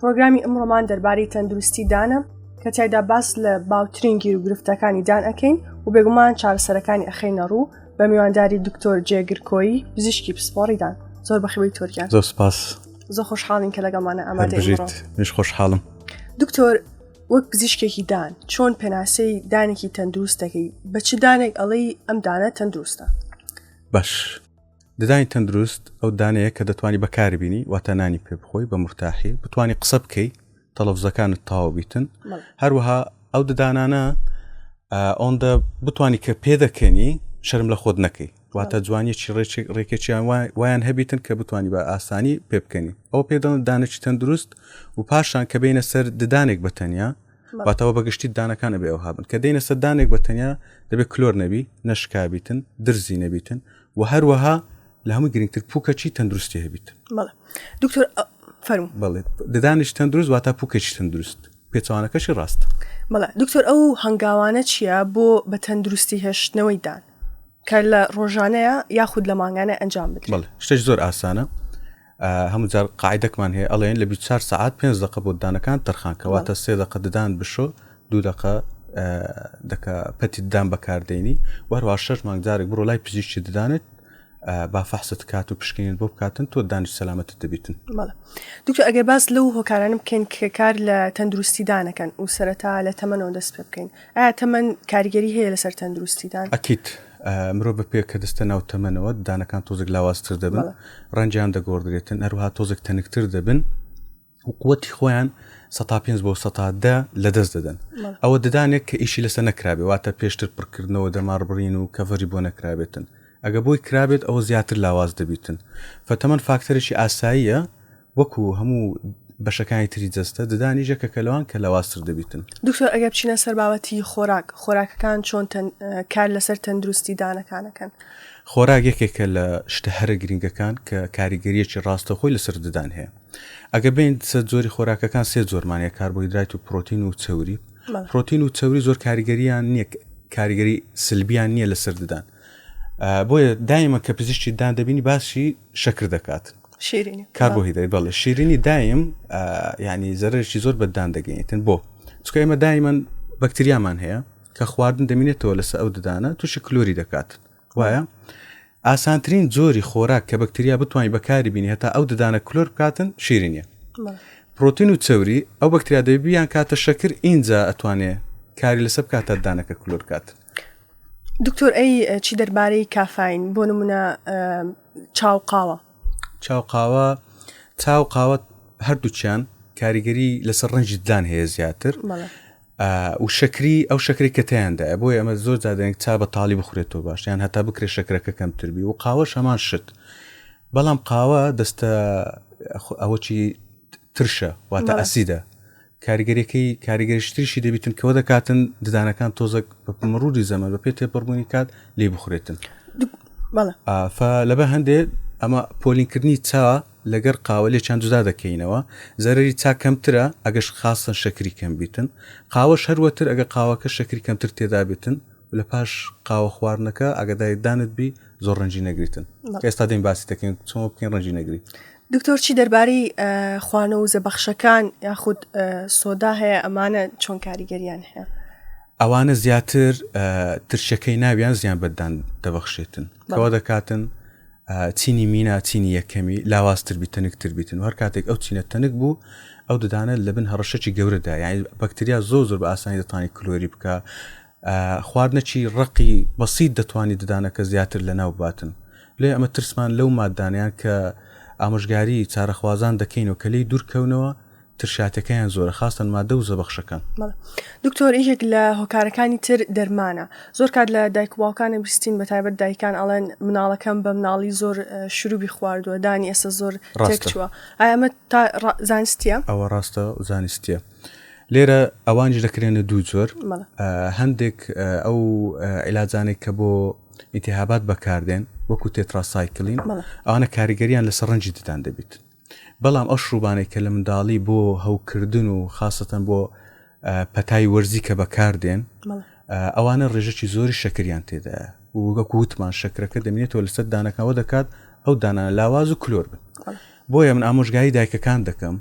پرۆگرامی ئەمڕۆمان دەربارەی تەندروستی دانە کە تایدا باس لە باوترین گیر و گرفتەکانی دان ئەەکەین و بێگومان چارەسەرەکانی ئەخینە ڕوو بە میوانداری دکتۆر جێگرکۆی پزیشکی پسپۆڕیدان زۆر بەخەوەی تۆریان زۆر سپاس زۆر خۆشحاڵین کە لەگەڵمانە ئامادەژیت مش خۆشحاڵم دکتۆر وەک پزیشکێکی دان چۆن پێناسەی دانێکی تەندروستەکەی بە چ دانێک ئەڵەی ئەم دانە تەندروستە باش ددانی تەندروست ئەو دانەیە کە دەتوانی بەکاری بینی واتە نانی پێ بخۆی بە مرتاحی بتانی قسە بکەی تەلەفزەکانت تاو بیتن هەروەها ئەو ددانانە ئەوەندە بتانی کە پێ دەکەنی شەرم لە خۆت نەکەی واتە جوانیی ڕێکی ڕێکێکیان وایان هەبیتن کە بتانی بە ئاسانی پێ بکەنی ئەو پێدەڵن دانێکی تەندروست و پاشان کە بینە سەر ددانێک بەتەنیا باتەوە بەگشتی دانەکان ئەبێ ئەو هابن کە دەینە سەر دانێک بە تەنیا دەبێت کلۆر نەبی نەشکابیتن درزی نەبیتن و هەروەها لە هەموو گرنگتر پوکەچی تەندروستی هەبیت دکتۆر فەرم بڵێت ددانش تەندروست واتا پوکەچی تەندروست پێچوانەکەشی ڕاست بەڵێ دکتۆر ئەو هەنگاوانە چییە بۆ بە تەندروستی هێشتنەوەی دان کە لە ڕۆژانەیە یاخود لە مانگانە ئەنجام بدرێت شتێک زۆر ئاسانە هەموو جار قاعدەکمان هەیە ئەڵێن لە 24 سعات پێنج دقە بۆ ددانەکان تەرخان کەواتە سێ دقە ددان بشۆ دوو دقە دەکە پەتی ددان بەکاردێنی وەروە شەش مانگ جارێک بڕۆ لای پزیشتی ددانت با فەحست کات و پشکنین بۆ بکاتن تۆ دانیش سەلامەت دەبیتن دوکتۆ ئەگەر باس لەو هۆکارانم بکەین کار لە تەندروستی دانەکەن و سەرەتا لە تەمەەوە دەست پێ بکەین ئایا تەمەن کاریگەری هەیە لەسەر تەندروستیدان؟ ئەکید مرۆڤ بە پێ کە دەستە ناو تەمەنەوە دانەکان تۆزێک لاوازتر دەبن ڕەنجیان دەگۆڕدرێتن هەروها تۆزێک تەنکتر دەبن قوتی خۆیان 5 بۆ سەدە لە دەست دەدەن ئەوە ددانێک کە ئیشی لەسەر نەکرابێ واتە پێشتر پڕکردنەوە دەماربڕین و کەڤەری بۆ نەکرابێتن ئەگە بۆی کرابێت ئەوە زیاتر لاواز دەبیتن فەتەمەن فاکتەرێکی ئاساییە وەکو هەموو بەشەکانی تری جەستە ددانیش یەکەکە لەوان کە لاوازتر دەبیتن. دکتۆر ئەگەر بچینە سەر بابەتی خۆراک خۆراکەکان چۆن کار لەسەر تەندروستی دانەکانەکەن؟ خۆراک یەکێکە لە شتە هەرە گرنگەکان کە کاریگەریەکی ڕاستەخۆی لەسەر ددان هەیە ئەگە بین سەر جۆری خۆراکەکان سێ جۆرمانە کاربۆیدرایت و پرۆتین و چوری پرۆتین و چوری زۆر کاریگەریان نییە کاریگەری سلبیان نییە لەسەر ددان بۆیە دایمە کە پزیشتی دان دەبینی باسی شەکر دەکات کار بۆ هیدای بەڵێ شیرینی دایم ینی زەرشی زۆر بەدان دەگەینتن بۆ چکە ئێمە دایمەن بەکتریامان هەیە کە خواردن دەمینێتەوە لەسەر ئەو ددانە تووشی کلۆری دەکات وایە ئاسانترین جۆری خۆراک کە بەکتریا بتوانین بەکاری بینی هەتا ئەو ددانە کلۆر بکاتن شیرینە پرۆتین و چەوری ئەو بەکتریا دەبیان کاتە شەکر ئینجا ئەتوانێ کاری لەسەر کاتە دانەکە کلۆر کاتن دکتۆر ئەی چی دەربارەی کافین بۆ نمونە چاو قاوە چاو قاوە چاو قاوە هەردووچیان کاریگەری لەسەر ڕنجی ددان هەیە زیاتر و شەکری ئەو شەکری کەتیاندا بۆ ئەمە زۆر زیادێنک چا بە تاالی بخورێتەوە باشیان هەتا بکرێت شەکرەکە کەمتربی و قاوە شەمان شت بەڵام قاوە دەستە ئەوەی ترشە واتە ئەسیدە کاریگەریەکەی کاریگەریشتریشی دەبیتن کەوە دەکاتن ددانەکان تۆزەک مڕوری زەمە بە پێ تێپەڕبوونی کات لێ بخورێتن لەبە هەندێ ئەمە پۆلینکردنی چا لەگەر قاوە لێ چند جودا دەکەینەوە زەرری چا کەمترە ئەگەش خاستن شەکری کەم بیتن قاوەش هەروەتر ئەگە قاوەکە شەکری کەمتر تێدابێتن لە پاش قاوە خواردنەکە ئەگەدای دانت بی زۆر ڕنجی نەگریتن ئێستا دەین باسی دەکەین چۆن بکەین ڕنجی نەگری دکتۆر چی دەرباری خوانە و زەبەخشەکان یاخود سۆدا هەیە ئەمانە چۆن کاریگەریان هەیە ئەوانە زیاتر ترشەکەی ناویان زیان بەدان دەبەخشێتن کەەوە دەکاتن چینی مینا چینی یەکەمی لاوااستر بی تەنکتر بیتن هەر کاتێک ئەو چینە تەنک بوو ئەو ددانە لە بن هەڕشەی گەورەدا یعنی بەکتریا زۆ زۆر بە ئاسانی دەتانی کلۆری بکە خواردنەکی ڕەقی بەسیت دەتوانیت ددانەکە زیاتر لەناو بباتن لێ ئەمە ترسمان لەو ماددانەیان کە ئامۆژگاری چارەخوازان دەکەین و کە لێی دوورکەونەوە ترشاتەکەیان زۆرە خاستن مادە و زەبەخشەکان دکتۆر یەکێک لە هۆکارەکانی تر دەرمانە زۆر کات لە دایک باوکانە بیستین بە تایبەت دایکان ئەڵێن مناڵەکەم بە مناڵی زۆر شروبی خواردووە دانی ئێستا زۆر ڕێکچووە ئەمە تا زانستە ئەوە ڕاستە زانستە لێرە ئەوانیش دەکرێنە دوو جۆر هەندێک ئەو عیلاجانێک کە بۆ ئیتیهابات بەکاردێن وەکو تێتراسایکلین ئەوانە کاریگەریان لە سەرنجی ددان دەبیت بەڵام ئەو شروبانێک کە لە منداڵی بۆ هەوکردن و خاستەن بۆ پەتای وەرزی کە بەکاردێن ئەوانە ڕێژەکی زۆری شەکریان تێدا وگەکو وتمان شەکرەکە دەمێتەوە لەسەر دانەکەەوە دەکات ئەو دانا لاواز و کلۆر بن بۆیە من ئامۆژگاری دایکەکان دەکەم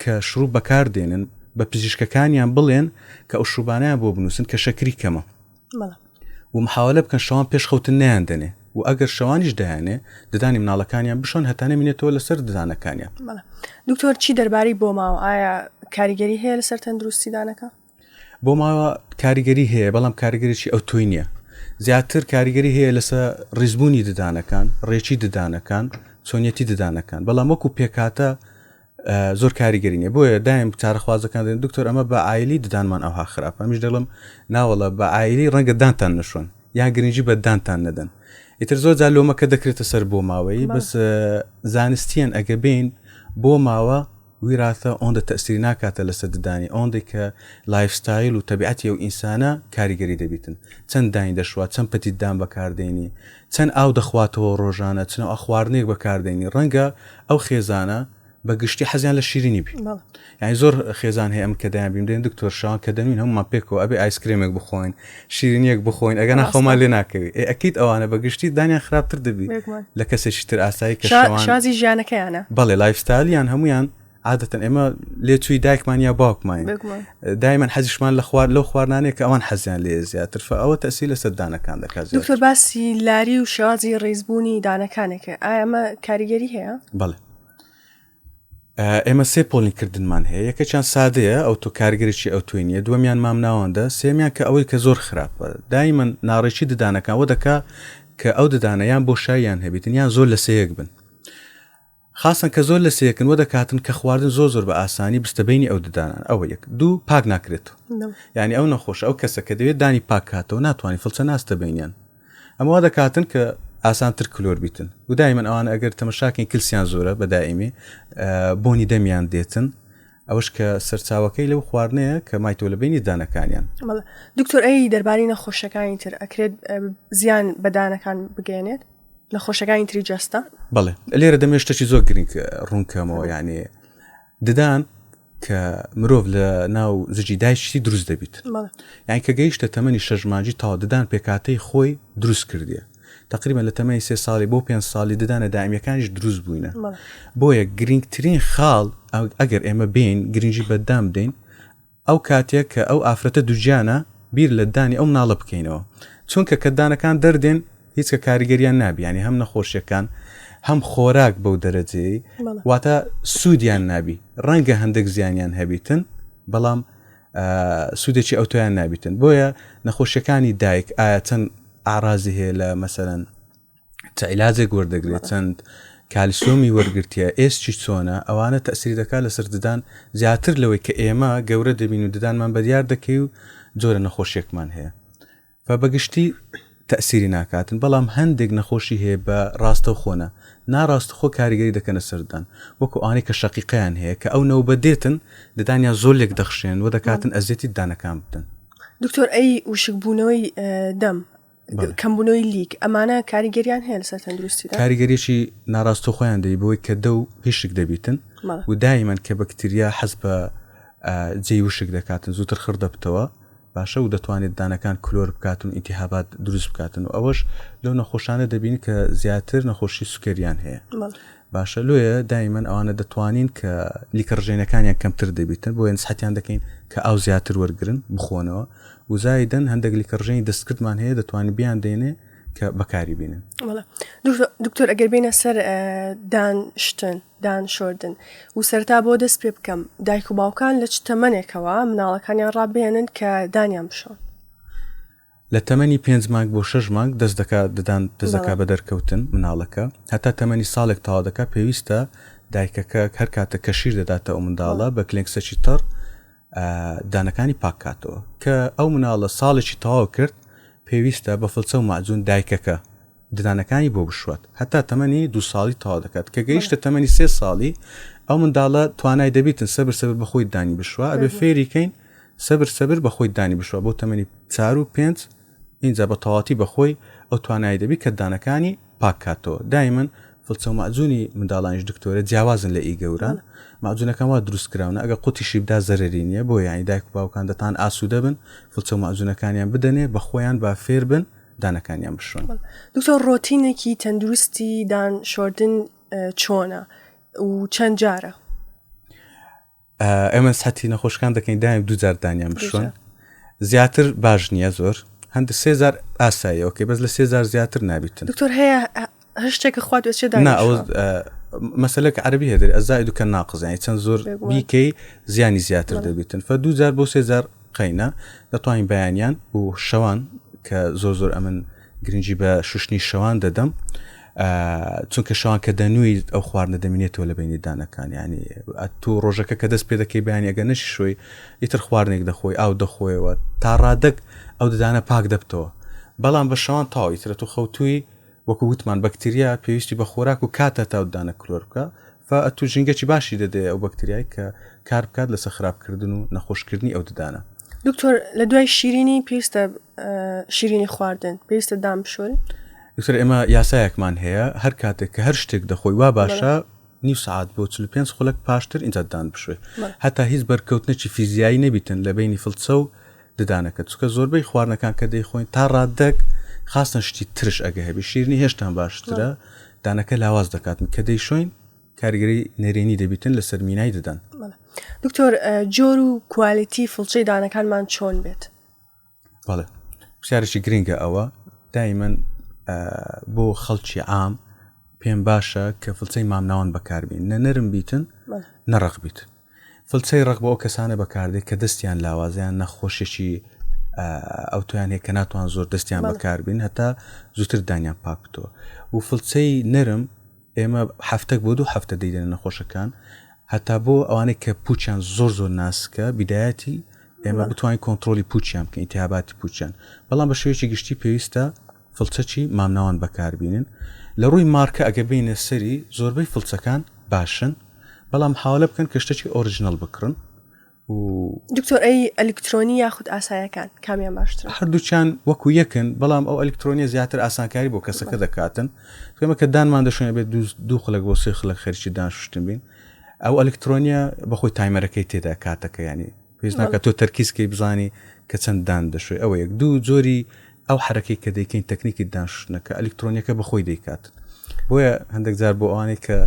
کە شڕوب بەکار دێنن بە پزیشکەکانیان بڵێن کە ئەو شروبانەیان بۆ بنووسن کە شەکری کەمە و محاولە بکەن شەوان پێش خەوتن نیان دەنێ و ئەگەر شەوانیش دایانێ ددانی مناڵەکانیان بشۆن هەتانە مینێتەوە لەسەر ددانەکانیان دکتۆر چی دەربارەی بۆماوە ئایا کاریگەری هەیە لەسەر تەندروستی دانەکە؟ بۆ ماوە کاریگەری هەیە بەڵام کاریگەریی ئەو تۆی نییە زیاتر کاریگەری هەیە لەسەر ڕیزبوونی ددانەکان ڕێکی ددانەکان چۆنیەتی ددانەکان بەڵام وەکو پێکاتە زۆر کاریگەری نیە بۆیە دایم چارەخوازەکان دێن دکتۆر ئەمە بە ئایلی ددانمان ئەوها خراپ ئەمیش دەڵم ناوەڵە بە ئایلی ڕەنگە دانتان نشۆن یا گرنگجی بە دانتان نەدەن ئیتر زۆر جا لۆمەکە دەکرێتە سەر بۆ ماوەی بەس زانستیان ئەگە بین بۆ ماوە ویراثە ئەوەندە تەئسیری ناکاتە لەسەر ددانی ئەوەندەی کە لایف ستایل و تەبیعەتی ئەو ئینسانە کاریگەری دەبیتن چەند داین دەشوات چەند پەتی ددان بەکاردەینی چەند ئاو دەخواتەوە ڕۆژانە چنەوە خواردنێک بەکاردەینی ڕەنگە ئەو خێزانە بە گشتی حەزیان لە شیرینی بی یانی زۆر خێزان هەیە ئەم کە دەیان بیم دێن دکتۆر شان کە دەمین هەمومان پێکەوە ئەبێ ئایسکرێمێک بخۆین شیرینیەک بخۆین ئەگەنا خۆمان لێ ناکەوی ئێ ئەکیت ئەوانە بە گشتی دانیان خراپتر دەبی لە کەسێکی تر ئاسایی کە شازی ژیانەکەیانە بەڵێ لایفستالیان هەمویان عادەتەن ئێمە لێ چووی دایکمان یا باوکمان دایمەن حەزیشمان لە خوارد لەو خواردانێک کە ئەوان حەزیان لێ زیاتر فە ئەوە تەسی لە سەردانەکان دەکات دکتۆر باسی لاری و شێوازی ڕیزبوونی دانەکانێکە ئایمە کاریگەری هەیە بەڵێ ئێمە سێ پۆلی کردنمان هەیە یەکەچان سادەیە ئەو تۆ کارگەرێکی ئەو توێنیە دووەمیان مام ناوەندە سێمیان کە ئەوەی کە زۆر خراپە دایمە ناڕێکی ددانەکەەوە دەکا کە ئەو ددانەیان بۆ شایان هەبێتن یان زۆر لە سەیەک بن خاصن کە زۆر لە سەیەکن وە دەکاتن کە خواردن زۆر زۆر بە ئاسانی بستەبینی ئەو ددانان ئەوە یەک دوو پاک ناکرێت یعنی ئەو نەخۆش ئەو کەسە کە دەوێت دانی پاکاتەوە ناتوانانی فلچە ناستە بینیان ئەمە وا دەکاتن کە ئاسانتر کلۆر بیتن و دایمەن ئەوانە ئەگەر تەمەشاکەین کلسیان زۆرە بە دائیمی بۆنی دەمیان دێتن ئەوش کە سەرچاوەکەی لەو خواردنەیە کە مایتۆ لە بینی دانەکانیان دکتۆر ئەی دەرباری نەخۆشەکانی تر ئەکرێت زیان بەدانەکان بگەێنێت لە خۆشەکانی تری جەستە بڵێ لێرە دەمێشتەکی زۆر گرنگ ڕوونکەمەوە یانێ ددان کە مرۆڤ لە ناو زجی دایشتی دروست دەبیت یان کە گەیشتە تەمەنی شەژماجی تاوا ددان پێکاتەی خۆی دروست کردیە تقریبا لە تەمەنی سێ ساڵی بۆ پێ ساڵی ددانە دائمیەکانیش دروست بووینە بۆیە گرنگترین خاڵ ئەگەر ئێمە بین گرنگجی بەدام بدەین ئەو کاتێک کە ئەو ئافرەتە دوجیانە بیر لە دانی ئەو مناڵە بکەینەوە چونکە کە دانەکان دەردێن هیچ کە کاریگەریان نابی یعنی هەم نەخۆشیەکان هەم خۆراک بەو دەرەجەیە واتە سوودیان نابی ڕەنگە هەندێک زیانیان هەبیتن بەڵام سوودێکی ئەوتۆیان نابیتن بۆیە نەخۆشیەکانی دایک ئایا چەند ئارازی هەیە لە مەسەرەن تەعیلاجێک وەردەگرێت چەند کالیسۆمی وەرگرتیە ئێستی چۆنە ئەوانە تەسری دەکات لەسەر ددان زیاتر لەوەی کە ئێمە گەورە دەبین و ددانمان بەدیار دەکەی و جۆرە نەخۆشیێکمان هەیە و بە گشتی تەئسیری ناکاتن بەڵام هەندێک نەخۆشی هەیە بە ڕاستەوخۆ نە ناڕاستەخۆ کاریگەری دەکەنە سەر ددان وەکو ئەوانەی کە شەقیقەیان هەیە کە ئەو نەوبەت دێتن ددانیان زۆر لێک دەخشێن و دەکاتن ئەزیەتی ددانەکان بدەن دکتۆر ئەی وشکبوونەوەی اه، دەم بەڵێ. کەمبوونەوەی لیک ئەمانە کاریگەریان هەیە لەسەر تەندروستیدا کاریگەریی ناڕاستە خۆیان دەی بۆی کە دە و هیشک دەبیتن بەڵێ. و دایمەن کە بەکتریا حەز بە ئا، جێی وشک دەکاتن زووتر خڕ دەبتەوە باشە و دەتوانێت دانەکان کلۆر بکاتن و ئینتیهابات دروست بکاتن و ئەوەش لەو نەخۆشانە دەبین کە زیاتر نەخۆشی سوکەریان هەیە باشە لۆیە دایمەن ئەوانە دەتوانین کە لیکە ڕژێنەکانیان کەمتر دەبیتن بۆ نسحەتیان دەکەین کە ئاو زیاتر وەرگن بخۆنەوە وزایدن هەندێک لیکە ڕژێنی دەستکردمان هەیە دەتوانین بیان دێنێ کە بەکاری بینن دکتۆر ئەگەر بینە سەر دان شتن دان شۆردن و سەرتا بۆ دەست پێ بکەم دایک و باوکان لە چ تەمەنێکەوە مناڵەکانیان ڕابێنن کە دانیان بشۆن لە تەمەنی پێنج مانگ بۆ شەش مانگ دەست دەکا ددان دەست دەکا بە دەرکەوتن مناڵەکە هەتا تەمەنی ساڵێک تەوا دەکا پێویستە دایکەکە هەر کاتە کە شیر دەداتە ئەو منداڵە بە کلێنکسەکی تەڕ دانەکانی پاک کاتەوە کە ئەو مناڵە ساڵێکی تەواو کرد پێویستە بە فلچە و ماجون دایکەکە ددانەکانی بۆ بشوات هەتا تەمەنی دو ساڵی تەوا دەکات کە گەیشتە تەمەنی سێ ساڵی ئەو منداڵە توانای دەبیتن سەبر سەبر بەخۆی دانی بشوە ئەبێ فێریکەین سەبر سەبر بەخۆی دانی بشوە بۆ تەمەنی چار و پێنج ئینجا بە تەواوەتی بە خۆی ئەو توانای دەبی کە ددانەکانی پاک کاتەوە دایمەن فڵچەو مەعجونی منداڵانیش دکتۆرە جیاوازن لە ئی گەوران مەعجونەکان وا دروست کراونە ئەگەر قوتیشی بدا زەرەری نیە بۆیە یانی دایک و باوکان دەتان ئاسودە بن فڵچەو مەعجونەکانیان بدەنێ بە خۆیان با فێر بن دانەکانیان بشۆن. دکتۆر ڕۆتینێکی تەندروستی دان شۆردن چۆنە و چەند جارە؟ ئێمە سەتی نەخۆشکان دەکەین دایم دوجار دانیان بشوێن زیاتر باش نییە زۆر هەند سێزار ئاساییەوەکەی بەس لە سێزار زیاتر نابیتن دکتۆر هەیە هەشتێکە خوات وێچێ دا مەسلەک عربی هێدر ئەزای دوکە ناقزیانی چەند زۆر بیکەی زیانی زیاتر دەبیتن فە دوجار بۆ سێزار قەینە دەتوانین بەیانیان و شەوان کە زۆر زۆر ئەمن گرنگی بە شوشتنی شەوان دەدەم چونکە شەوان کە دەنویت ئەو خواردنە دەمینێتەوە لە بینی دانەکان ینی تۆ ڕۆژەکە کە دەست پێ دەکەی بیانی ئەگە نەشی شوی ئیتر خواردنێک دەخۆی ئاو دەخۆیەوە تا ڕادەک ئەو ددانە پاک دەبتەوە بەڵام بە شەوان تاویترە تو خەوتوی وەکو وتمان بەکتریا پێویستی بە خۆراک و کاتە تاودانە کلۆر بکە فە ئەتوو ژینگەکی باشی دەدەیە ئەو بەکتریای کە کار بکات لەسە خراپکردن و نەخۆشکردنی ئەو ددانە دکتۆر لە دوای شیرینی پێویستە شیرینی خواردن پێویستە دام بشۆن دکتۆر ئێمە یاسایەکمان هەیە هەر کاتێک کە هەر شتێک دەخۆی وا باشە نیو سعات بۆ 45 خولک پاشتر ئینجاددان بشوێ هەتا هیچ بەرکەوتنێکی فیزیایی نەبیتن لە بینی فلچە و ددانەکەت چونکە زۆربەی خواردنەکان کە دەیخۆین تا ڕاددەک خاستن شتی ترش ئەگە هەبی شیرنی هێشتان باشترە دانەکە لاواز دەکاتن کە دەیشۆین کارگەری نەرێنی دەبیتن لە سەرمینای دەدەن دکتۆر جۆر و کوالیتی فڵچەی دانەکانمان چۆن بێت بەڵێ پرسیارێکی گرنگە ئەوە دایمەن بۆ خەڵکی عام پێم باشە کە فڵچەی مامناوان بەکاربین نە نەرم بیتن نەڕق بیت فلچەی ڕەق بۆ ئەو کەسانە بەکاردێت کە دەستیان لاوازە یان نەخۆشێکی ئەوتۆیان هەیە کە ناتوان زۆر دەستیان بەکاربین هەتا زووتر دانیان پاک بتەوە و فلچەی نەرم ئێمە هەفتەک بۆ دوو هەفتە دەیدێنە نەخۆشەکان هەتا بۆ ئەوانەی کە پوچیان زۆر زۆر ناسکە بیدایەتی ئێمە بتوانین کۆنتترۆلی پوچیان بکەین تیاباتی پوچیان بەڵام بە شێوەیەکی گشتی پێویستە فڵچەکی مامناوەند بەکاربینن لەڕووی مارکە ئەگەر بێینە سەری زۆربەی فڵچەکان باشن بەڵام حاوەلە بکەن کە شتەکی ئۆرجنەڵ بکڕن و. دکتۆر ئەی ئەلیکترۆنی یاخود ئاسایەکان کامیان باشترە؟ هەردووکیان وەکو یەکن بەڵام ئەو ئەلیکترۆنیە زیاتر ئاسانکاری بۆ کەسەکە دەکاتن ئێمە کە دانمان دەشوێنێ بێت دوو خلک بۆ سێ خلک خەرکی دانشتن بین ئەو ئەلیکترۆنیە بەخۆی تایمەرەکەی تێدا کاتەکە ینی پێش ناکە تۆ تەرکیزکەی بزانی کە چەند دان دەشوێ ئەوە یەک دوو جۆری ئەو حرەکەی کە دەیکەین تەکنیکی داشنەکە ئەلکترۆنیەکە بەخۆی دەیکات بۆیە هەندێک جار بۆ ئەوانەی کە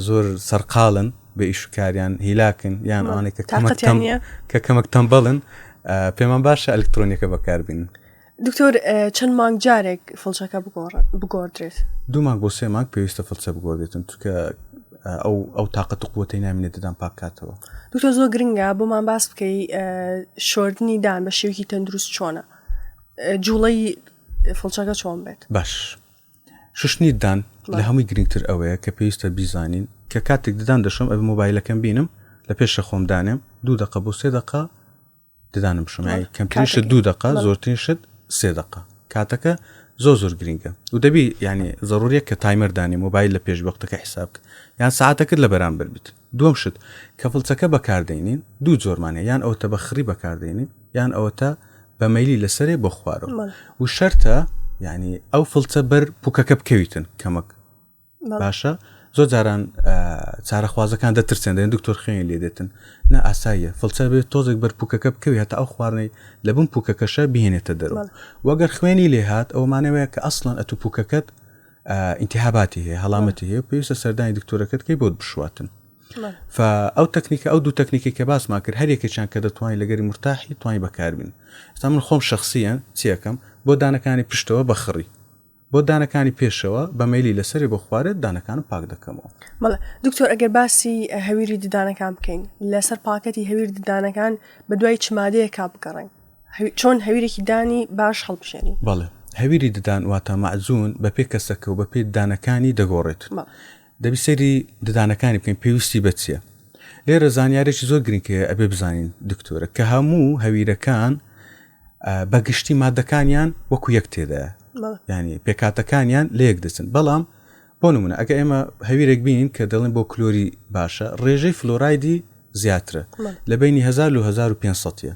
زۆر سەرقاڵن بە ئیشکاریان هیلاکن یان ئەوانەی کە کە کەمەک تەمبڵن پێمان باشە ئەلکترۆنیەکە بەکاربین دکتۆر چەند مانگ جارێک فڵچەکە بگۆڕدرێت دوو مانگ بۆ سێ مانگ پێویستە فڵچە بگۆدێتن چکە ئەو ئەو تااقەت قوتی نامێنێتدان پاکاتەوە دکتۆر زۆر گرنگە بۆمان باس بکەی شۆردنی دان بە شێوکی تەندروست چۆنە جوڵی فڵچەکە چۆن بێت باش ششتنی دان لە هەمووی گرنگتر ئەوەیە کە پێویستە بیزانین کە کاتێک ددان دەشم ئەو مۆبایلەکەم بینم لە پێشە خۆم دانێم دوو دقە بۆ سێ دقە ددانم شمای کەمترین شت دوو دقە زۆرترین شت سێ دقە کاتەکە زۆر زۆر گرنگە و دەبی ینی زەڕوریە کە تایمەردانی مۆبایل لە پێش وەختەکە حساب یان ساعتەکرد لە بەرامبەر بیت دوم شت کە فڵچەکە بەکاردێنین دوو جۆرمانە یان ئەوتە بە خڕی بەکاردێنین یان ئەوەتە بە مەلی لەسەرێ بۆ خوارەوە و شەرتە ینی ئەو فڵچە بەر پوکەکە بکەویتن کەمەک باشە زۆر جاران چارەخوازەکان دەترسێن دەێن دکتۆر خوێن لێ دێتن نە ئاساییە فڵچە بێت تۆزێک بەر پوکەکە بکەوی هەتا ئەو خواردنەی لە بم پوکەکەشە بهێنێتە دەرو وەگەر خوێنی لێ هاات ئەومانەوەیە کە ئەسڵەن ئەتو پوکەکەت ئینتیهاباتی هەیە هەڵامەتی هەیە پێویستە سەردانی دکتۆرەکەت کەی بۆت بشواتن ئەو تەکنیکە ئەو دوو تەکنیکی کە باسمان کرد هەرێکێکیان کە دەتوانین لەگەری مرتاحی توانین بەکاربین ستا من خۆم شخصیان چیەکەم بۆ دانەکانی پشتەوە بەخڕی بۆ دانەکانی پێشەوە بە مەیلی لەسەرێ بۆ خوارێت دانەکانم پاک دەکەمەوە. مەڵێ دکتۆر ئەگەر باسی هەویری ددانەکان بکەین لەسەر پاکەتی هەویر ددانەکان بە دوای چ مادەیەکا بگەڕین چۆن هەویرێکی دانی باش هەڵبژێنین بەڵێ هەویری ددان واتە مەعجون بە پێ کەسەکە و بە پێ ددانەکانی دەگۆڕێت مەڵێ دەبی سەیری ددانەکانی بکەین پێویستی بە چییە لێرە زانیارێکی زۆر گرنگەیە ئەبێ بزانین دکتۆرە کە هەموو هەویرەکان بە گشتی مادەکانیان وەکو یەک تێدایە ینی پێکاتەکانیان لە یەک دەچن بەڵام بۆ نمونە ئەگە ئێمە هەویرێک بینین کە دەڵێن بۆ کلۆری باشە ڕێژەی فلۆرایدی زیاترە لە بینی 1500ە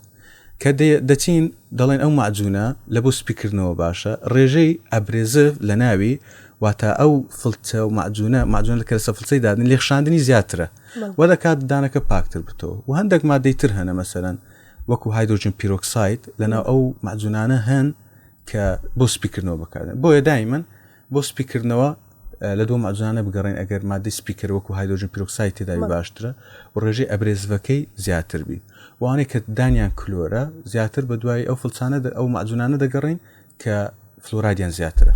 کە دەچین دەڵێن ئەو معجوونە لە بۆ سپیکردنەوە باشە ڕێژەی ئەبرێزف لە ناوی واتە ئەو فلتە و معجوونە معجون لە کەسە فلسەی دادن لێخشاندنی زیاترە وە دەکات دانەکە پاکتر بتەوە و هەندێک مادەی تر هەنە مەسەرەن وەکو هایدرۆجن پیرۆکساید لەناو ئەو مەعجونانە هەن کە بۆ سپیکردنەوە بکاتن بۆیە دایمن بۆ سپیکردنەوە لە دوو مەجانە بگەڕین ئەگەر مادەی سپیکەر وەکو هایدۆژن پیرۆکسای تێداوی باشترە و ڕێژەی ئەبرێزڤەکەی زیاتر بی وانەی کە دانیان کلۆرە زیاتر بە دوای ئەو فلچانە ئەو مەجونانە دەگەڕین کە فلورادیان زیاترە.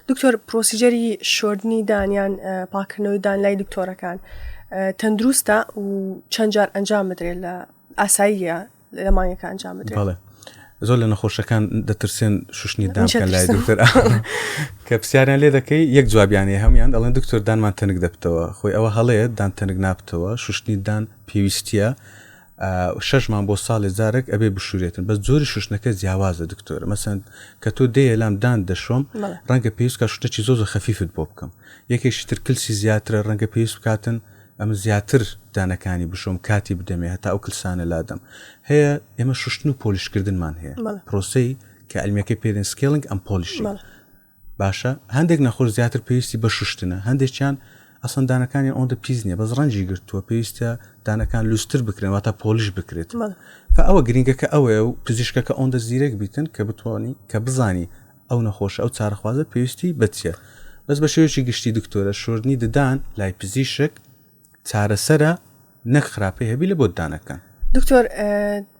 دکتۆر پرۆسیجەری شۆردنی دانیان پاکردنەوەی دان لای دکتۆرەکان تەندروستە و چەند جار ئەنجام بدرێت لە ئاساییە لە مانگەکە ئەنجام بدرێت بەڵێ زۆر لە نەخۆشەکان دەترسێن شوشتنی دامکەن لای دکتۆر کە پرسیاریان لێ دەکەی یەک جوابیانێ هەموان ئەڵێن دکتۆر دانمان تەنگ دەبتەوە خۆی ئەوە هەڵەیە دان تەنگ نابتەوە شوشتنی دان پێویستە شەشمان بۆ ساڵێ زارێک ئەبێ بشورێتن بە زۆری شوشتنەکە جیاوازە دکتۆرە مەسەند کە تۆ دەیە لام دان دەشۆم ڕەنگە پێویستکە شتەکی زۆزە خەفیفت بۆ بکەم یەکێکی ترکلسی زیاترە ڕەنگە پێویست بکاتن ئەمن زیاتر دانەکانی بشۆم کاتی بدەمێ هەتا ئەو کلسانە لادەم هەیە ئێمە شوشتن و پۆلیشکردنمان هەیە پرۆسی کە ئەلمیەکەی پێدن سکێلنگ ئەم پۆلیشی باشە هەندێک نەخۆش زیاتر پێویستی بە شوشتنە هەندێکیان ئەسەن دانەکانی ئەوەندە پیس نیە بەس ڕەنجی گرتووە پێویستە دانەکان لوستر بکرێن واتە پۆلیش بکرێت ئەوە گرنگەکە ئەوەیە و پزیشکەکە ئەوەندە زیرەک بیتن کە بتوانانی کە بزانی ئەو نەخۆشە ئەو چارەخوازە پێویستی بەچیە بەس بە شێوەیەکی گشتی دکتۆرە شۆردنی ددان لای پزیشک چارەسەرە نەک خراپەی هەبی لە بۆتدانەکان دکتۆر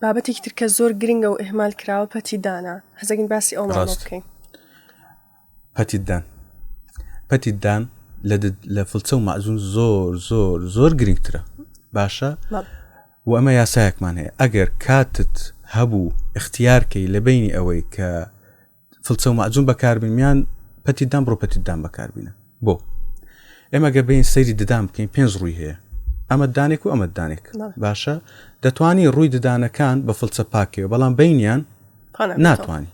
بابەتێکی ترکە زۆر گرنگە و ئهمال کراوە پەتی دانا حەزەگین باسی ئەو بکەین پەتیدان پەتیدان لە فلچە و مەزون زۆر زۆر زۆر گرنگترە باشە وە ئەمە یاسایەکمان هەیە ئەگەر کاتت هەبوو اختیارکەی لە بینی ئەوەی کە فلچە و مەعجون بەکاربیان پەتی دام بڕۆ پەتی دام بەکاربینە بۆ ئێمە گە بین سەیری ددان بکەین پێنج ڕووی هەیە ئەمە دانێک و ئەمە دانێک باشە دەتوانی ڕووی ددانەکان بە فلچە پاکەوە بەڵام بینیان ناتوانانی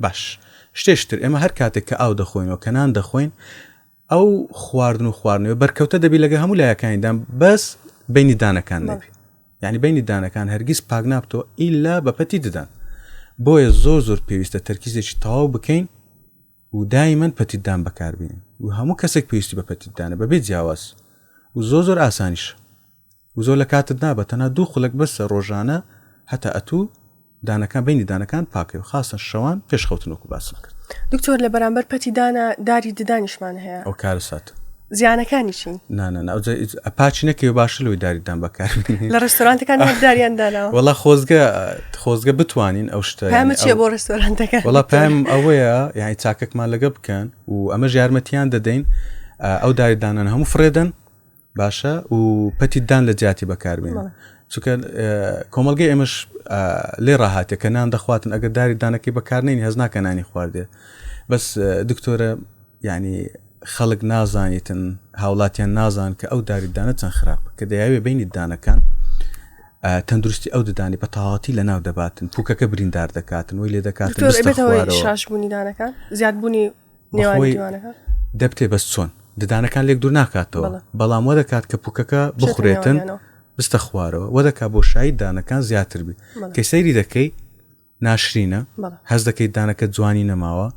باش شتێشتر ئێمە هەر کاتێک کە ئاو دەخۆینەوە کەنان دەخۆین ئەو خواردن و خواردنەوە بەرکەوتە دەبی لەگە هەموو لایەکانیدان بەس بینی دانەکان نەبی یعنی بینی دانەکان هەرگیز پاک نابتەوە ئیلا بەپەتی ددان بۆیە زۆر زۆر پێویستە تەرکیزێکی تەواو بکەین و دایمەن پەتیدان بەکاربیین و هەموو کەسێک پێویستی بە پەتیدانە بەبێ جیاواز و زۆ زۆر ئاسانیش و زۆر لە کاتت نابات تەنها دوو خولەک بەسە ڕۆژانە هەتا ئەتوو دانەکان بینی دانەکان پاکەی و خاستە شەوان پێش خەوتن وەکو باسم کرد دکتۆر لە بەرامبەر پەتی دانا داری ددانیشمان هەیە ئەو کارە سات زیانەکانی چین ئەپاچی نەکەی و باش لەوەی داریدان بەکار لە ڕستۆرانتەکان داریان دانا وڵا خۆزگە خۆزگە بتوانین ئەو شتە چێ بۆ ڕستۆرانتەکە وڵا پام ئەوەیە یعنی چاکەکمان لەگە بکەن و ئەمە ژارمەتیان دەدەین ئەو داریدانان هەموو فرێدەن باشە و پەتیدان لە جیاتی بەکاربێن چونکە کۆمەلگەی ئێمەش لێ ڕاهاتێ کە نان دەخواتن ئەگەر داری دانەکەی بەکارنین هەز ناکە نانی خواردێ بەس دکتۆرە ینی خەڵک نازانیتن هاوڵاتیان نازان کە ئەو داریدانە چەند خراپ کە دەیاوێ بینی دانەکان تەندروستی ئەو ددانی بە تەواتی لە ناو دەباتن پوکەکە بریندار دەکاتن وی لێ دەکاتن شاشبوونی دانەکان زیادبوونی نێوانی دوانەکە دەبتێ بەس چۆن ددانەکان لێک دوور ناکاتەوە بەڵام وە دەکات کە پوکەکە بخورێتن بستە خوارەوە وە دەکات بۆ شایی دانەکان زیاتر بێت کە سەیری دەکەی ناشرینە هەز دەکەیت دانەکە جوانی نەماوە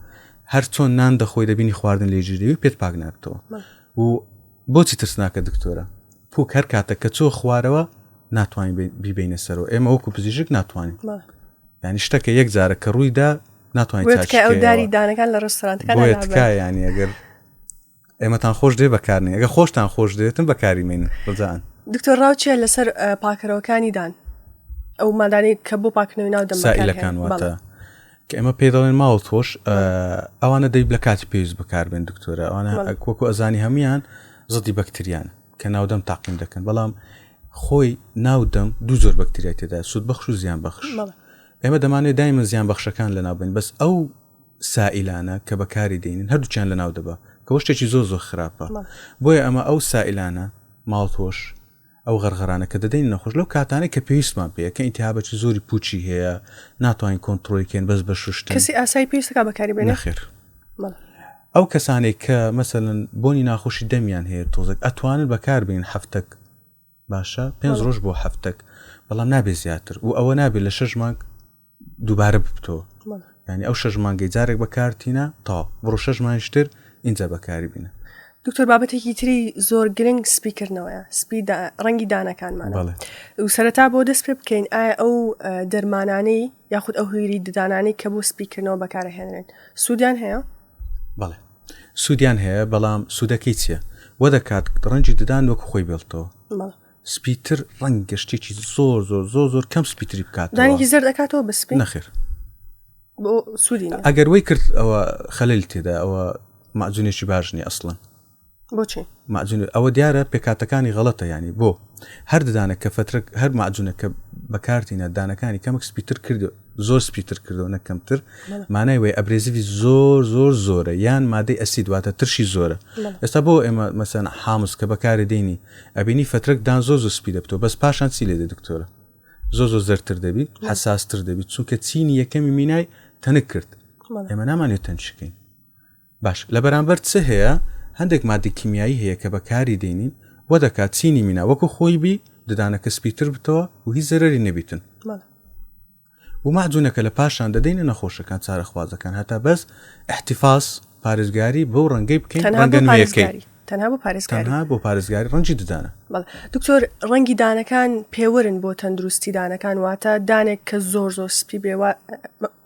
هەر چۆن نان دەخۆی دەبینی خواردن لێ ژیری و پێت پاک نابتەوە و بۆچی ترسناکە دکتۆرە پوک هەر کاتە کە چۆ خوارەوە ناتوانین بیبینە سەرەوە ئێمە وەکو پزیشک ناتوانین ینی شتەکە یەک جارە کە ڕوویدا ناتوانانی دانەکان لە ڕسترانەکانیانی ئەگەر ئێمەتان خۆش دێ بەکارنی ئەگە خۆشتان خۆش دێتن بەکاری من ڕزان دکتۆر ڕاوچە لەسەر پاکەرەوەکانی دان ئەو مادانی کە بۆ پاکنەوەی ناو دەمەکان واتە کە ئێمە پێ دەڵێن ماوە تۆش ئەوانە دەیب لە کاتی پێویست بکاربێن دکتۆرە ئەوانە کۆکو ئەزانی هەموان زدی بەکتریان کە ناودەم تاقیم دەکەن بەڵام خۆی ناودەم دوو زۆر بەکتریای تێدا سوود بەخش و زیان بەخش ئێمە دەمانەوێت دایمن زیان بەخشەکان لە ناوبین بەس ئەو سائلانە کە بەکاری دێنین هەردووچیان لە ناو دەبا کەەوە شتێکی زۆر زۆر خراپە بۆیە ئەمە ئەو سائلانە ماڵتۆش ئەو غەرغرانە کە دەدەین نەخۆش لەو کاتانە کە پێویستمان پێ کە ئینتیابەتی زۆری پوچی هەیە ناتوانین کۆنتترۆلکەین بەس بە شوشت کەسی ئاسایی پێویستەکە بەکاری بێنە خێر ئەو کەسانێک کە مەسەن بۆنی ناخۆشی دەمیان هەیە تۆزێک ئەتوانن بەکاربین هەفتەک باشە پێنج ڕۆژ بۆ هەفتەک بەڵام نابێ زیاتر و ئەوە نابێت لە شەش مانگ دووبارە ببتەوە ینی ئەو شەش مانگەی جارێک بەکارتینە تا بڕۆ شەش مانشتر اینجا بەکاری بینە دکتۆر بابەتێکی تری زۆر گرنگ سپیکردنەوەە سپی ڕەنگی دانەکانمان و سەرەتا بۆ دەست پێ بکەین ئایا ئەو دەرمانانەی یاخود ئەو هویری ددانانی کە بۆ سپیکردنەوە بەکارهێنرێن سوودیان هەیە بەڵێ سوودیان هەیە بەڵام سوودەکەی چییە وە دەکات ڕەنجی ددان وەکو خۆی بێڵتەوە سپیتر ڕەنگ گەشتێکی زۆر زۆر زۆر زۆر کەم سپیتری بکات دانگی زەر دەکاتەوە بە سپی نەخێر ئەگەر وی کرد ئەوە خەلل تێدا ئەوە مەزونێکی باش نیە ئەسڵەن بۆچی ماجون ئەوە دیارە پێکاتەکانی غەڵەتە ینی بۆ هەر ددانە کە فترە هەر ماجونە کە بەکارتینە دانەکانی کەمک سپیتر کردو زۆر سپیتر کردو نەکەمتر مانای وی ئەبرێزیوی زۆر زۆر زۆرە یان مادەی ئەسی دواتە ترشی زۆرە ئێستا بۆ ئێمە مەسەن حامز کە بەکاری دێنی ئەبینی فترەک دان زۆر زۆر سپی دەبتەوە بەس پاشان چی لێ دە دکتۆرە زۆر زۆر زەرتر دەبی حساستر دەبی چونکە چینی یەکەمی مینای تەنک کرد ئێمە نامانێت تەنشکەین باش لە بەرامبەر چ هەیە؟ هەندێک ماددەی کیمیایی هەیە کە بە کاری دێنین وە دەکات چینی مینا وەکو خۆی بی ددانەکە سپیتر بتەوە و هیچ زەرەری نەبیتن و مەعجونەکە لە پاشان دەدەینە نەخۆشەکان چارەخوازەکان هەتا بەس احتفاس پارێزگاری بەو ڕەنگەی بکەین ڕەنگە نوێیەکەی تەنها بۆ پارێزگاری تەنها بۆ پارێزگاری ڕەنجی ددانە دکتۆر ڕەنگی دانەکان پێوەرن بۆ تەندروستی دانەکان واتە دانێک کە زۆر زۆر سپی بێ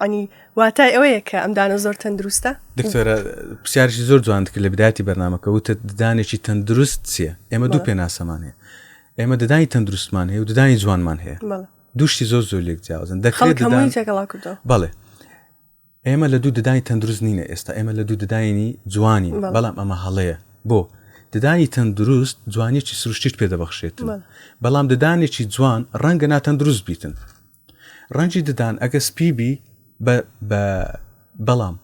ئەنی واتای ئەوەیە کە ئەم دانە زۆر تەندروستە دکتۆرە پرسیارشی زۆر جوان کرد لە بداتی بەرنمەکە وتە دانێکی تەندروست چییە ئێمە دوو پێناسەمان هەیە ئێمە ددانی تەندروستمان هەیە و ددانی جوانمان هەیە دوشتی زۆر زۆر لێک جیاوازن دەخڵی تێکەڵا کردو بەڵێ ئێمە لە دوو ددانی تەندروست نینە ئێستا ئێمە لە دوو دداینی جوانی بەڵام ئەمە هەڵەیە بۆ ددانی تەندروست جوانیی سروشتیت پێ دەبەخشێت بەڵام ددانێکی جوان ڕەنگە ناتەندروست بیتن ڕەنگی ددان ئەگە سپیبی بەڵام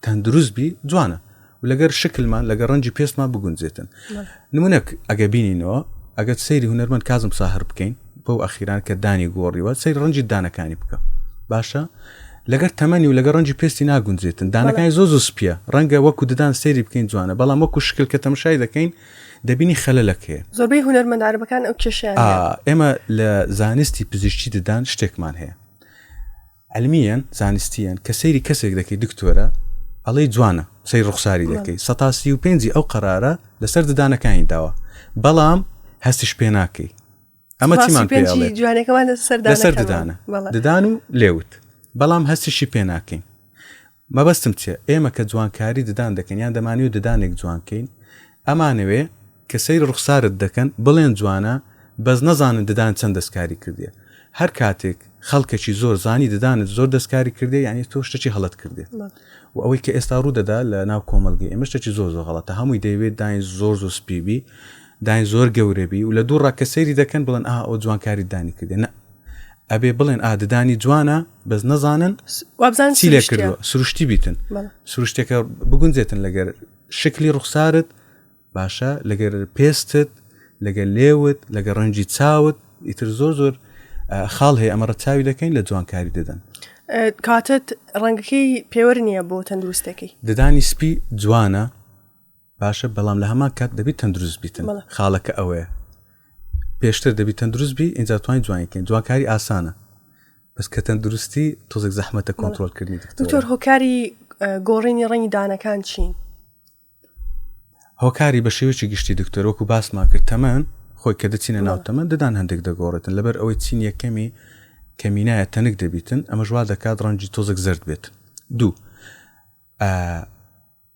تەندروست بی جوانە و لەگەر شکلمان لەگە ڕەنجی پێستمان بگونجێتن نمونەک ئەگە بینینەوە ئەگەر سەیری هوەرمەند کازم ساهر بکەین بەو ئەخیران کە دانی گۆڕیوە سەیر ڕەنجی دانەکانی بکە باشە لەگەر تەمەنی و لەگە ڕەنجی پێستی ناگونجێتن دانەکانی زۆ زۆ سپە ڕەنگە وەکو ددان سەیری بکەین جوانە بەڵام وەکو شکل کە تەمشای دەکەین دەبینی خەلەکەی زۆربەی هوەرمەداربەکان ئەو کێشیان ئێمە لە زانستی پزیشتی ددان شتێکمان هەیە علمیەن زانستیەن کە سەیری کەسێک دەکەی دکتۆرە ئەڵێی جوانە سەیر ڕوخساری دەکەی سەتا سی و پێنجی ئەو قەرارە لەسەر ددانەکانی داوە بەڵام هەستیش پێ ناکەی ئەمە چیمان پێ ئەڵێ؟ پێنجی جوانەکەمان لەسەر لەسەر ددانەکەمان. ددانە بەڵێ. ددان و لێوت بەڵام هەستیشی پێ ناکەین مەبەستم چیە ئێمە کە جوانکاری ددان دەکەین یان دەمانەوێ ددانێک جوان کەین ئەمانەوێ کە سەیری ڕوخسارت دەکەن بڵێن جوانە بەس نەزانن ددانت چەند دەستکاری کردیە هەر کاتێک خەڵکەکی زۆر زانی ددانت زۆر دەستکاری کردیە یانی تۆ شتەکی هەڵەت کردیە و ئەوەی کە ئێستا ڕوو دەدا لە ناو کۆمەڵگەی ئێمە شتەکی زۆر زۆر غەڵەتە هەمووی دەیەوێت داین زۆر زۆر سپی بی داین زۆر گەورە بی و لە دوو ڕاکە سەیری دەکەن بڵێن ئا ئەو جوانکاری دانی کردێ نە ئەبێ بڵێن ئا ددانی جوانە بەس نەزانن چی لێ کردوە سروشتی بیتن سروشتەکە بگونجێتن لەگەر شکلی ڕوخسارت باشە لەگەر پێستت لەگەر لێوت لەگە ڕەنجی چاوت ئیتر زۆر زۆر خاڵ هەیە ئەمە ڕەچاوی دەکەین لە جوانکاری دەدەن کاتت ڕەنگەکەی پێوەر نییە بۆ تەندروستەکەی ددانی سپی جوانە باشە بەڵام لە هەمان کات دەبیت تەندروست بیتن خاڵەکە ئەوەیە پێشتر دەبی تەندروست بی ئینجا توانین جوانکەین جوانکاری ئاسانە بەس کە تەندروستی تۆزێک زەحمەتە کۆنتترۆلکردنی دکتۆر هۆکاری گۆڕینی ڕەنی دانەکان چین هۆکاری بە شێوەیەکی گشتی دکتۆر وەکو باسمان کرد تەمەن خۆی کە دەچینە ناو تەمەن ددان هەندێک دەگۆڕێتن لەبەر ئەوەی چین یەکەمی کەمینایە تەنک دەبیتن ئەمەش وا دەکات ڕەنجی تۆزێک زرد بێت دوو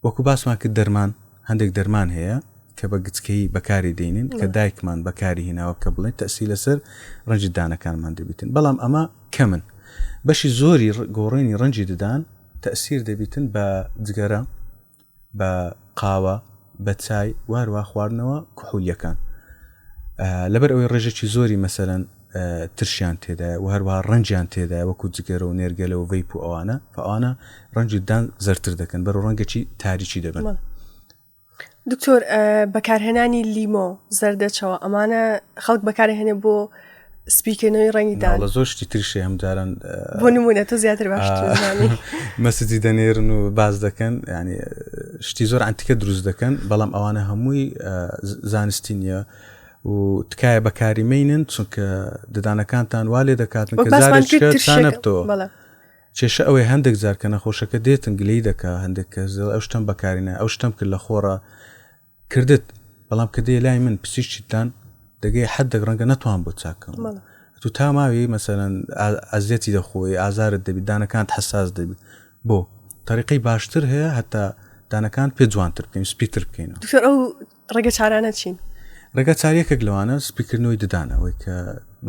وەکو باسمان کرد دەرمان هەندێک دەرمان هەیە کە بە گچکەی بەکاری دێنین کە دایکمان بەکاری هیناوە کە بڵێن تەسی لەسەر ڕەنجی دانەکانمان دەبیتن بەڵام ئەمە کەمن بەشی زۆری گۆڕێنی ڕەنجی ددان تەسیر دەبیتن بە جگەرە بە قاوە، بە چای و هەروەها خواردنەوە کحولیەکان لەبەر ئەوەی ڕێژێکی زۆری مەسەلەن ترشیان تێدایە و هەروەها ڕەنجیان تێدایە وەکو جگەرە و نێرگەلە و ڤەیپ و ئەوانە فەوانە ڕەنجی دان زەرتر دەکەن بەرە ڕەنگەکی تاریکی دەبن دکتۆر بەکارهێنانی لیمۆ زەردەچەوە ئەمانە خەڵک بەکارهێنێ بۆ سپیکردنەوەی ڕەنگی دا لە زۆر شتی ترشێ ئەم جاران بۆ نمونە تۆ زیاتر باش مەسجی دەنێرن و باز دەکەن ینی شتی زۆر ئەتیکە دروست دەکەن بەڵام ئەوانە هەمووی زانستی نیە و تکایە بەکاری مینن چونکە ددانەکانتان وا لێ دەکاتن کە زارێکتەوە کێشە ئەوەی هەندێک جارکە نەخۆشەکە دێتن گلی دەکە هەندێک کەس ئەو شتم بەکارینە ئەو شتم کرد لە خۆڕە کردت بەڵام کە دێ لای من پسیشتان دەگەی حدێک ڕەنگە نەتوان بۆ چاکەم بەڵێ تو تا ماوی مەسەرەن ئازیەتی دەخۆی ئازارت دەبی دانەکانت حساس دەبی بۆ طریقی باشتر هەیە هەتا دانەکان پێ جوانتر بکەین سپیتر بکەین دکتۆر ئەو ڕێگە چارانە چین ڕێگە چاریەکێک لەوانە سپیکردنەوەی ددانەوەی کە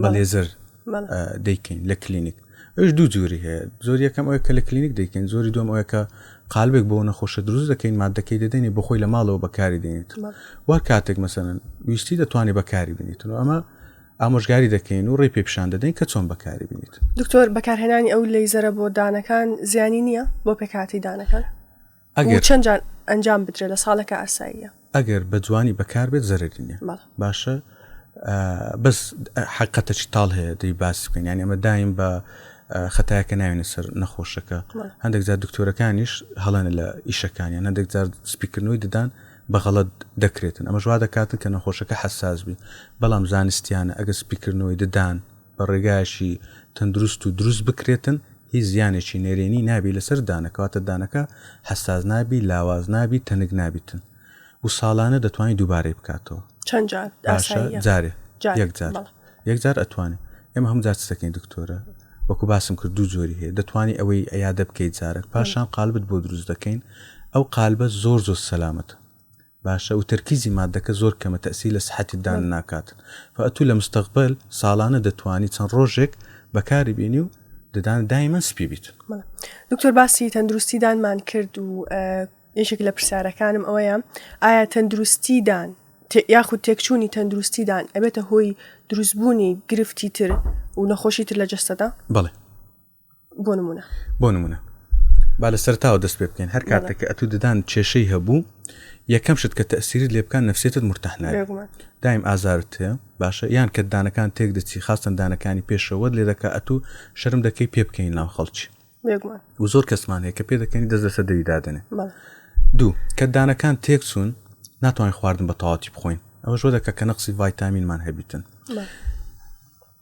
بە لێزەر دەیکەین لە کلینیک ئەوش دوو جووری هەیە زۆر یەکەم ئەوە کە لە کلینیک دەیکەین زۆری دوم ئەوە کە قالبێک بۆ نەخۆشە دروست دەکەین مادەکەی دەدەنی بۆ خۆی لە ماڵەوە بەکاری دێنیت وەر کاتێک مەسەن ویستی دەتوانانی بەکاری بنیت و ئەمە ئامۆژگاری دەکەین و ڕێ پێپشان دەدەین کە چۆن بەکاری بنیت دکتۆر بەکارهێنانی ئەو لەیزەرە بۆ دانەکان زیانی نییە بۆ پێکاتی دانەکان ئەگەر چەند جار ئەنجام بدرێت لە ساڵەکە ئاساییە ئەگەر بە جوانی بەکار بێت زەرری نیە باشە بەس حقەتە چی تاڵ هەیە دەی باس بکەین یان ئەمە دایم بە خەتایەکە ناوێنە سەر نەخۆشەکە هەندێک جار دکتۆرەکانیش هەڵێنە لە ئیشەکانیان هەندێک جار سپیکردنەوەی ددان بەغەڵت دەکرێتن ئەمە ژوا دەکاتن کە نەخۆشەکە حساس بی بەڵام زانستیانە ئەگە سپیکردنەوەی ددان بە ڕێگایەکی تەندروست و دروست بکرێتن هیچ زیانێکی نەرێنی نابی لەسەر دانە کەواتە دانەکە حەساس نابی لاواز نابی تەنک نابیتن و ساڵانە دەتوانانی دووبارەی بکاتەوە چەند جار باشە ئاسایی یە جارێ جار یەک جار بەڵێ یەک جار ئەتوانێت ئێمە هەم جار چتەکەین دکتۆرە وەکو باسم کرد دوو جۆری هەیە دەتوانی ئەوەی ئەیادە بکەیت جارێک پاشان قالبت بۆ دروست دەکەین ئەو قالبە زۆر زۆر سەلامەتە باشە وتەرکیزی مادەکە زۆر کەمە تەئسیر لە سحەتیت دان ناکات فە ئەتوو لە مستەقبەل ساڵانە دەتوانی چەند ڕۆژێک بەکاری بینی و ددانت دایمەن سپی بیت. بەڵێ دکتۆر باسی تەندروستی دانمان کرد و یەکێک لە پرسیارەکانم ئەوەیە ئایا تەندروستی دان تێ- یاخود تێکچوونی تەندروستی دان ئەبێتە هۆی دروستبوونی گرفتی تر و نەخۆشی تر لە جەستەدا بەڵێ بۆ نمونە بۆ نمونە با لە سەرتاوە دەست پێ بکەین هەر کاتێککە ئەتو ددان کێشەی هەبوو یەکەم شت کە تەسیری لێ بکان نفسێتت مرتەحنا دایم ئازارت هەیە باشە یان کە دانەکان تێک دەچی خاستن دانەکانی پێشەوەت لێ دەکە ئەتو شەرم دەکەی پێ بکەین ناو خەڵکی و زۆر کەسمان هەیە کە پێ دەکەنی دەست لەسەر دەری دادنێ دوو کە دانەکان تێک چوون ناتوانین خواردن بە تەواتی بخۆین ئەوە ژۆ دەکە کە نەقسی ڤایتامینمان هەبیتن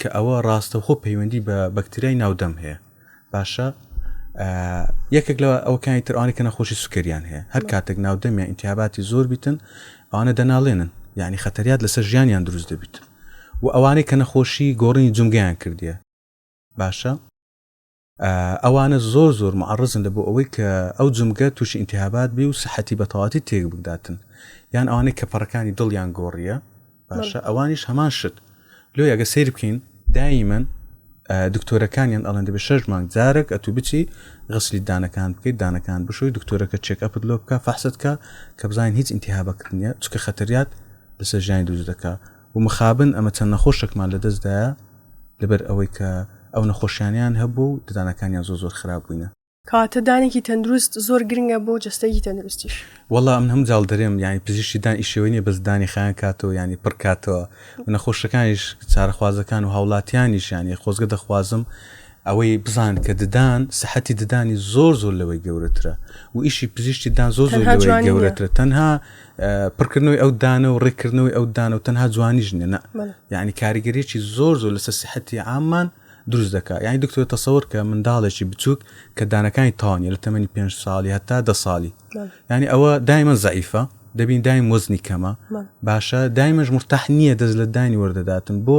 کە ئەوە ڕاستەوخۆ پەیوەندی بە بەکتریای ناودەم هەیە باشە یەکێک لە ئەوکانی ترانی کە نەخۆشی سوکەریان هەیە هەر کاتێک ناودەمیان ئینتیاباتی زۆر بیتن ئەوانە دەناڵێنن یعنی خەتەریات لەسەر ژیانیان دروست دەبیت و ئەوانەی کە نەخۆشی گۆڕینی جمگەیان کردیە باشە ئەوانە زۆر زۆر معڕزن لە بۆ ئەوەی کە ئەو جمگە تووشی ئینتیهابات بی و سەحەتی بەتەواتی تێک بگداتن یان ئەوانەی کە پەڕەکانی دڵیان گۆڕیە باشە ئەوانیش هەمان شت لۆ یاگە سیر بکەین دایمەن دکتۆرەکانیان ئەڵەن دەبێت شش مانگ جارێک ئەتو بچی غسلی دانەکان بکەیت دانەکان بشۆی دکتۆرەکە چێک ئەپت لۆ بکە فەحستکە کە بزانین هیچ ئینتیهابەکردنیە چکە خەتەریات لەسەر ژیانی دووز دەکە و مخابن ئەمە چەند نەخۆشێکمان لەدەست دایە لەبەر ئەوەی کە ئەو نەخۆشیانەیان هەبووە و ددانەکانیان زۆر زۆر خراپ بووینە. کەواتە دانێکی تەندروست زۆر گرنگە بۆ جەستەیەکی تەندروستیش. وەڵا من هەموو جاڵ دەرێم یانی پزیشکی دان ئیشەوەی نیە بەس دانی خایەن کاتەوە یانی پڕ کاتەوە و نەخۆشەکانیش چارەخوازەکان و هاوڵاتیانیش یانی خۆزگە دەخوازم ئەوەی بزان کە ددان سەحەتی ددانی زۆر زۆر لەوەی گەورەترە و ئیشی پزیشتی دان زۆر زۆر گەورەترە تەنها پڕکردنەوەی ئەو دانە و ڕێکردنەوەی ئەو دانە و تەنها جوانیش نیە نە یعنی کاریگەریی زۆر زۆر لەسەر سحەتی ئامان دروست دەکە یعنی دکتۆر تەسەور کە منداڵێکی بچووک کە دانەکانی تاوانە لە تەمەنی پێ ساڵی هەتا دە ساڵی ینی ئەوە دایمە زعیفە دەبین دایم وەزنی کەمە باشە دایمەش مرتاح نییە دەست لە دانی وەردەداتن بۆ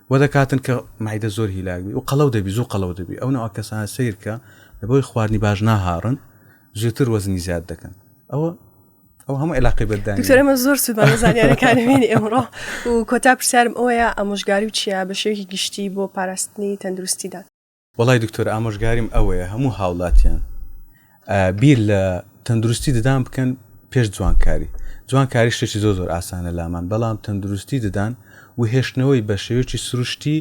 بۆ دەکاتن کە مەعیدە زۆر هیلاک بی و قەڵەو دەبی زوو قەڵەو دەبی ئەو نەوە کەسانە سیرکە لە بۆی خواردنی باش ناهاڕن زووتر وەزنی زیاد دەکەن ئەوە ئەو هەموو علاقی بەدان دکتۆرەمە زۆر سوودمان زانیارەکانمێنی ئەمڕۆ و کۆتا پرسیارم ئەوەیە ئەمۆژگاری و چیا بە شێوی گشتی بۆ پاراستنی تەندروستیدا وەڵای دکتۆر ئامۆژگاریم ئەوەیە هەموو هاوڵاتیان بیر لە تەندروستی ددان بکەن پێش جوانکاری جوانکاری شتێکی زۆر زۆر ئاسانە لامان بەڵام تەندروستی ددان و هێشتنەوەی بە شێوێکی سروشتی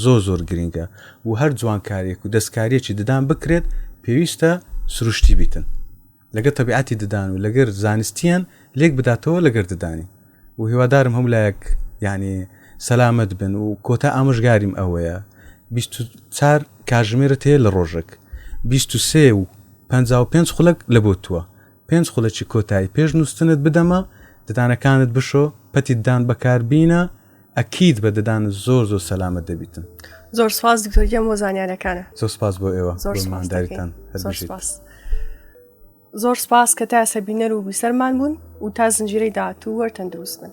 زۆر زۆر گرنگە و هەر جوانکارێک و دەستکاریەکی ددان بکرێت پێویستە سروشتی بیتن لەگەر تەبیعەتی ددان و لەگەر زانستیان لێک بداتەوە لەگەر ددانی و هیوادارم هەموو لایەک یعنی سەلامەت بن و کۆتا ئامۆژگاریم ئەوەیە چار کاژمێرە تێ لە ڕۆژێک 23 و 55 خولک لە بۆ تووە پێنج خولەکی کۆتایی پێش نووسنت بدەمە ددانەکانت بشۆ پەتی دان بەکاربینە ئەکید بە ددان زۆر زۆر سەلامەت دەبیتن. زۆر سپاس دکتۆر گیان بۆ زانیارەکانە زۆر سپاس بۆ ئێوە زۆر بۆ سپاس دەکەین. مانداریتان هەر زۆر بژیت. سپاس زۆر سپاس کە تا سەبینەر و بیسەرمان بوون و تا زنجیرەی داهاتوو وەر تەندروست بن